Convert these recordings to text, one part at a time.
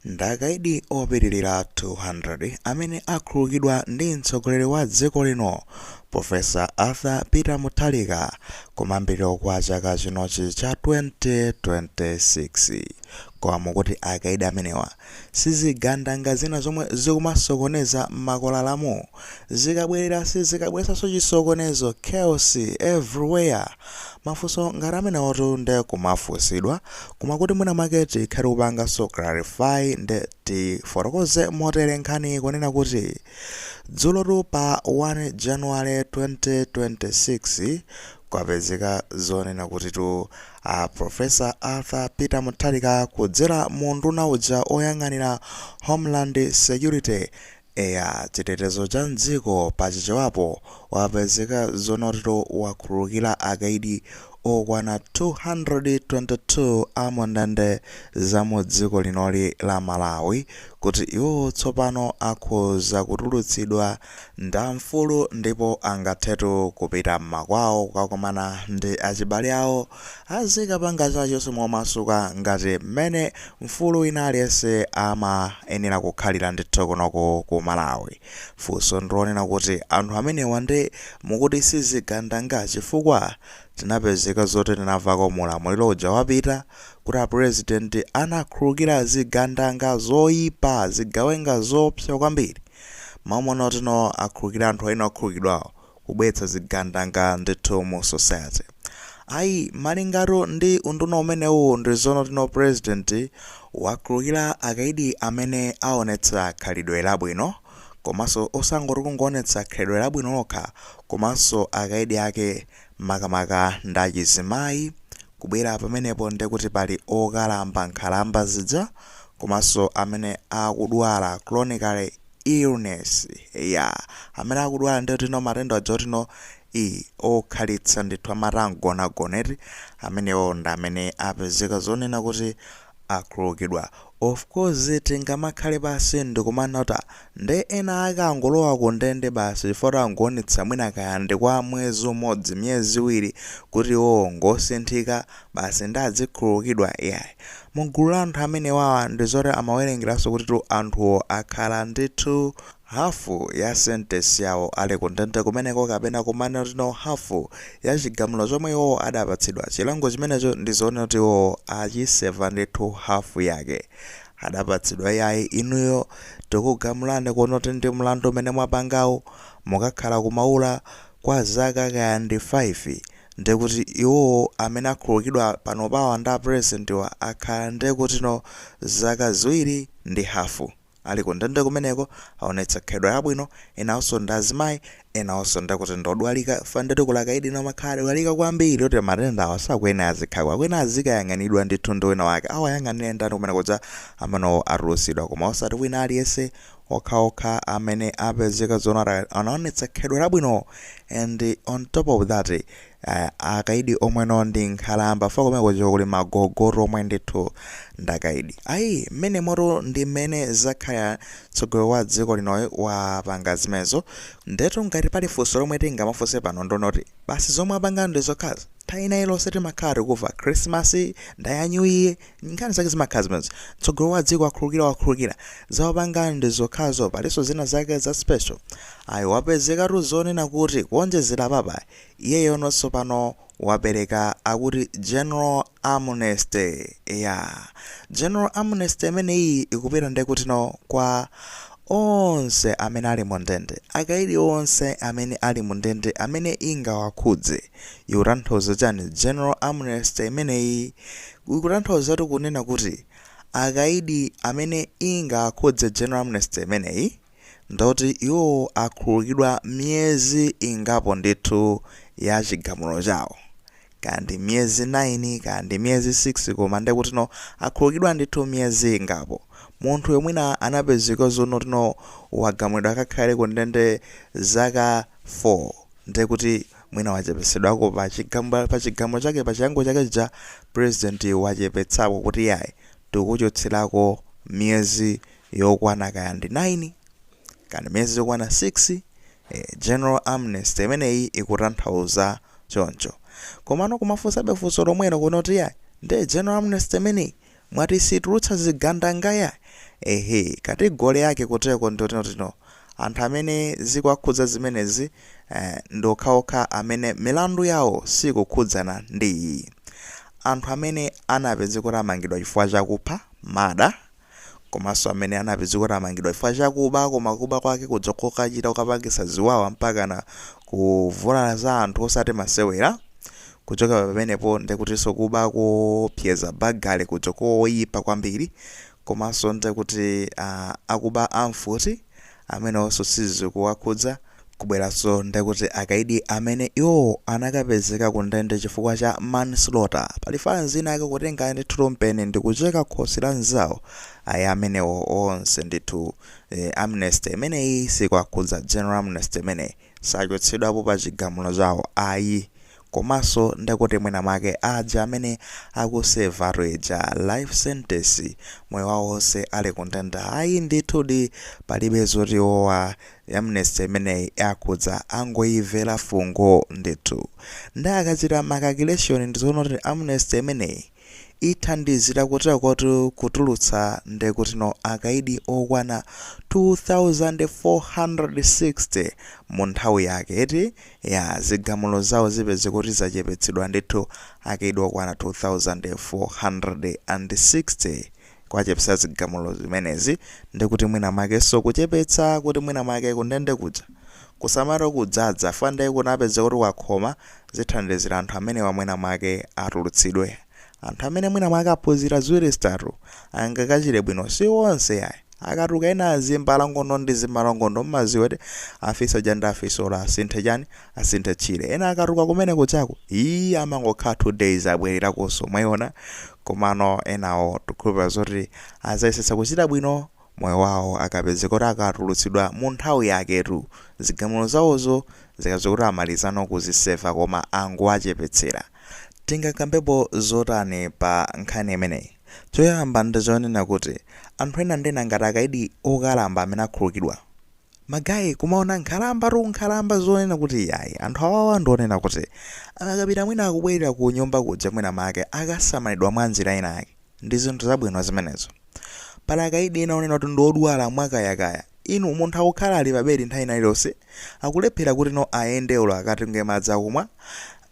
Ndi akaidi opitilira 200 amene akhululukidwa ndi mtsogoleri wa dziko lino Professor Arthur Peter Mutharika kumayambiriro kwa chaka chinochi cha 2026. Koma mukuti akaidi amenewa sizigandanga zina zomwe zikumasokoneza mmakwalalamu? zikabwerera sizikabweretsanso chisokonezo, chaos, everywhere? Mafunso ngati amenewotu nde akumafunsidwa, koma kuti mwina mwake tikhale tikupanganso clarify nde tifotokoze motere nkhaniyi kunena kuti, dzulotu pa 1 January 2026, kwapezeka zonena kutitu a Professor Arthur Peter Mutharika kudzera mu unduna uja oyang'anira Homeland Security, Eya chitetezo cha mdziko pa Chichewapo wapezeka zonena kuti wakhululukira akaidi okwana 222 a mu ndende za mu dziko linoli la Malawi kuti iwowo tsopano akhoza kutulutsidwa nda mfulu ndipo angathetu kupita mmakwawo kukakomana ndi achibale awo azikapanga chinachilichonse momasuka ngati mmene mfulu wina aliyense amayenera kukhalira ndithu kunoko ku Malawi. Funso ndilonena kuti anthu amenewa nde mukuti sizigandanga chifukwa tinapezeka zoti tinamvako mu ulamuliro uja wapita kuti a president anakhululukira zigandanga zoipa, zigawenga zoopsa kwambiri. Mumaona kuti no akhululukira anthu ena okhululukidwawo kubweretsa zigandanga ndithu mu society ayi malingana ndi unduna umenewu ndi zonena kuti no president wakhululukira akaidi amene awonetsa khalidwe labwino komanso osangoti kungoonetsa khalidwe labwino lokha komanso akaidi ake makamaka ndi achizimayi kubwera pamenepo ndekuti pali okalamba nkhalamba zija komanso amene akudwala chronically illness ya amene akudwala ndi tino matenda aja oti no i okhalitsa ndithu amati amgonagona eti amenewo ndi amene apezeka zonena kuti akhululukidwa of course tingamakhale pansi ndikumanena kuti nde ena akangolowa ku ndende basi chifukwa angoonetsa mwina kaya ndi kwa mwezi umodzi miyezi iwiri kuti iwowo ngosinthika basi nde azikhululukidwa iyayi. Mu gulu la anthu amenewawa ndi zoti amawerengeranso kutitu anthuwo akhala ndithu hafu ya sentence yawo ali ku ndende kumeneko kapena kumanena kuti no hafu ya chigamulo chomwe iwowo adapatsidwa. Chilango chimenecho ndi zoona kuti iwowo achiseva ndithu hafu yake. Adapatsidwa iyayi inuyo tikugamulani kunena kuti ndi mlandu umene mwapangawu mukakhala ku Maula kwa zaka kaya ndi 5 ndekuti iwowo amene akhululukidwa panopawa ndi a president'wa akhala ndekutino zaka ziwiri ndi hafu ali ku ndende kumeneko aonetsa khalidwe labwino, enaonso ndi azimayi, enaonso ndekuti ndi odwalika chifukwa ndetu kuli akaidi ena amakhala adwalika kwambiri oti matenda awa sakuyenera azikhako akuyenera azikayang'aniridwa ndithu ndi wina wake awayang'anire ndani kum kuja amanowo atulutsidwa koma osati wina aliyense okhaokha amene apezeka zoona anaonetsa khalidwe labwino and on top of that eh, akaidi omweno ndi nkhalamba fa kumeneko kuli magogotu omwe ndithu ndakaidi ayi mmenemotu ndi mmene zakhala mtsogoleri wa dziko linoyi wapanga zimenezo ndetu ngati pali funso lomwe tingamafunse pano ndonoti basi zomwe apanga ndi zokhazi nthawi ina iliyonse timakhala tikuva krismasi ndaya new year Nkhani zake zimakhala zimenezo. Mtsogoleri wa dziko wakhululukira wakhululukira. Za wapanga ndi zokhazo palinso zina zake za special. Ayi wapezekatu zonena kuti kuonjezera apapa iyeyono tsopano wapereka akuti general amnesty. Eyaa. General amnesty imeneyiyi ikupita ndekutino kwa onse amene ali mu ndende. Akaidi onse amene ali mu ndende amene ingawakhudze. Ikutanthauza chani general amnesty imeneyi? Ikutanthauzatu kunena kuti akaidi amene ingawakhudze general amnesty imeneyi ndoti iwowo akhululukidwa miyezi ingapo ndithu ya chigamulo chawo, kaya ndi miyezi 9 kaya ndi miyezi 6 koma ndekutino akhululukidwa ndithu miyezi ingapo. Munthuyo mwina anapezeka zonotino wagamulidwa akakhale kundende zaka 4 ndekuti. Mwina wachepetsedwako pa chigamulo chake pa chilango chake chija president wachepetsako kuti iyayi tikukuchotserako miyezi yokwana kaya ndi 9 kani miyezi yokwana 6 ee general amnesty imeneyi ikutanthauza choncho komano kumafunsabe funso lomwelo kunena kuti iyayi nde general amnesty imeneyi Mwati siitulutsa zigandangaya? Ehe, category yake kutereko ndi yotinotino. Anthu amene zikuwakhudza zimenezi, eh, ndi okhaokha amene milandu yawo siikukhudzana ndi iyi. Anthu amene anapezeka kuti amangidwa chifukwa cha kupha, murder, komanso amene anapezeka kuti amangidwa chifukwa cha kuba koma kuba kwake kuja kokachita kokapangitsa ziwawa mpakana kuvulalaza anthu osati masewera, Kuchoka pamenepo nde kutinso kuba koopseza, burglary kuja koyipa kwambiri, komanso nde kuti aah akuba a mfuti amenewonso sizikuwakhudza, kubweranso nde kuti akaidi amene iwowo anakapezeka ku ndende chifukwa cha manslaughter, pali fanzi ina ake kutenga ndi thu mpeni ndikucheka khosi la nzawo, ayi amenewo onse ndithu eeh amnesty imeneyi sikuwakhudza, general amnesty imeneyi. sachotsedwapo pa chigamulo chawo ayi komanso ndekuti mwina mwake aja amene akusevatu ija life sentence moyo wawo onse ali kundende ayi ndithudi palibe zoti iwowa amnesty imeneyi akhudza angoyimvera fungo ndithu nde akachita ma calculation ndizoona kuti amnesty imeneyi ithandizira kuterokotu kutulutsa ndekuti no akaidi okwana 2460 mu nthawi yake eti ya zigamulo zawo zipezeke kuti zachepetsedwa ndithu akaidi okwana 2460 Kwachepetsa zigamulo zimenezi ndekuti mwina mwakenso kuchepetsa kuti mwina mwake kundende kuja kusamale kudzadza chifukwa nde kunapezeka kuti kwakhoma zithandizira anthu amenewa mwina mwake atulutsidwe anthu amene mwina mwake aphunzira ziwiri zitatu angakachite bwino si onse yayi akatuka ena azimbalangondo ndi zimbalangondo mmadziwa kuti afisi aja ndi afisi olo asinthe chani asinthe tchire ena akatuka kumene kujaku ii amangokhala 2 days abwererakonso mwaiona komano enawo tikhulupira zoti adzayesetsa kuchita bwino moyo wawo akapezeka kuti akatulutsidwa mu nthawi yaketu zigamulo zawozo zikapezeka kuti amalizano kuziseva koma angowachepetsera. Tingakambepo zotani pa nkhani imeneyi? Choyamba ndi chonena kuti anthu ena ndena ngati akaidi okalamba amene akhululukidwa, Ma guy kumaona nkhalambatu nkhalamba zonena kuti iyayi anthu awawa ndi onena kuti akakapita mwina akubwerera ku nyumba kuja mwina make akasamalidwa mwa njira ina yake. Ndi zinthu zabwino zimenezo. Pali akaidi ena onena kuti ndi odwala mwa kayakaya. Inu munthu akukhala ali pa bedi nthawi ina iliyonse akulephera kuti no ayende olo akatunge madzi akumwa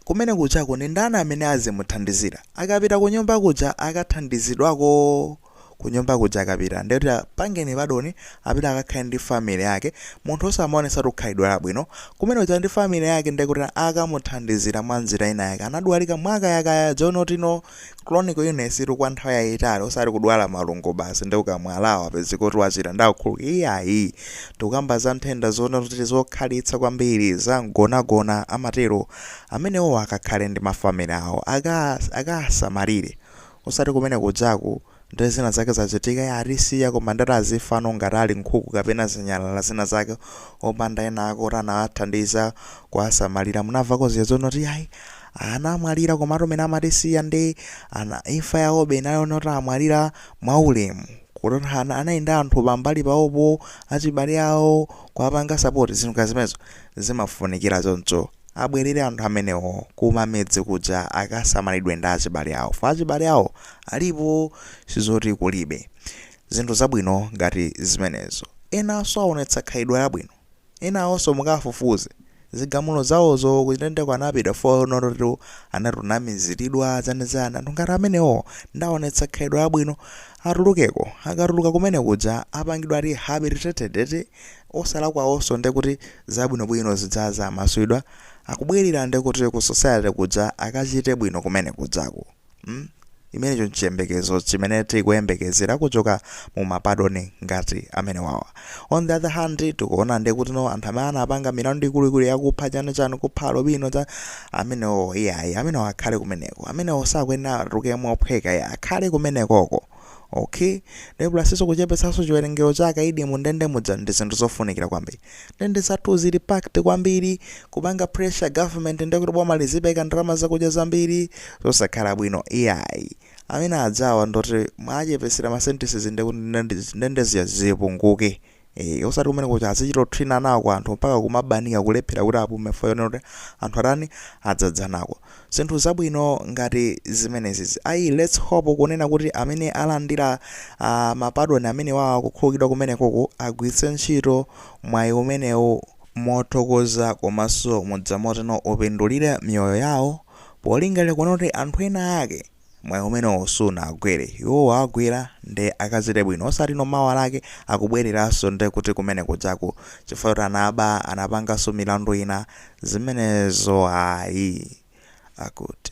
kumene kujako ndi ndani amene azimuthandizira akapita ku nyumba kuja akathandizidwako? kunyumba kuja akapita ndiye kuti apangeni pardon apita akakhale ndi family yake munthu osamaonetsatu khalidwe labwino kumene kuja ndi family yake ndiye kuti akamuthandizira mwa njira ina yake anadwalika mwakayakaya ija yoti no chronic illness tu kwa nthawi yayitali osati kudwala malungo basi nde ukamwa LA wapezeka kuti wachira ndakukhululukira iyayi tikukamba za nthenda zonena kuti zokhalitsa kwambiri za mgonagona amatero amenewo akakhale ndi mafamily awo aka- akasamalire Osati kumene kujaku nde zina zake zachitika yaa atisiya koma ndekuti azifano ngati ali nkhuku kapena zinyalala zina zake opanda ena ake oti anawathandiza kuwasamalira munamvako zija zonena kuti yayi anamwalira komatu mene amatisiya nde imfa yawobe inali yonena kuti amwalira mwaulemu kuti anali ndi anthu pambali pawopo achibale awo kuwapanga support zinthu ngati zimenezo zimafunikira choncho Abwerere anthu amenewo kuma midzi kuja akasamalidwe ndi achibale awo chifukwa achibale awo alipo sizoti kulibe, zinthu zabwino ngati zimenezo enanso awonetsa khalidwe labwino enawonso mukawafufuze zigamulo zawozo kundendeko anapita for not to anati ananamiziridwa chani chani anthu ngati amenewo nde awonetsa khalidwe labwino atulukeko akatuluka kumene kuja apangidwa rehabilitated eti osalakwaonso ndekuti zabwinobwino zidzaza amasulidwa akubwelera ndekuti ku society kuja akachite bwino kumene kujako mm chimenecho nchiyembekezo chimene tikuyembekezera kuchoka mu ma pardon ngati amenewa on the other hand tikuona ndekutino anthu amene anapanga milandu ikuluikulu yakupha chani chani kupha alobino cha amenewo iyayi amenewo akhale kumeneko amenewo sakuyenera atuluke mophweka ya akhale kumenekoko ok nde plus-nso kuchepetsanso chiwerengero cha akaidi mu ndende muja ndi zinthu zofunikira kwambiri ndende zathu zili packed kwambiri kupanga pressure government nde kuti boma lizipereka ndalama zakudya zambiri zosakhala bwino iyayi amene adzakhala oti mwachepetsera ma sentences nde kuti ndende- ndende ziya zipunguke Eh, osati kumene kuja azichita kuthinana ko anthu mpaka kumabanika kulephera kuti apume chifukwa chonena kuti anthu atani adzadzana ko zinthu zabwino ngati zimenezi ayi let's hope kunena kuti amene alandira uh, mapadoni amenewa okhululukidwa kumenekoko agwiritse ntchito mwayi umenewu mothokoza komanso mwamtundu woti upindulire miyoyo yawo polingalira kunena kuti anthu ena ake mwayi umenewo sunawagwere iwo wawagwera nde akachite bwino osatino mawa lake akubwereranso nde kuti kumene kujako chifukwa choti anaba anapanganso milandu ina zimenezo ayi akuti.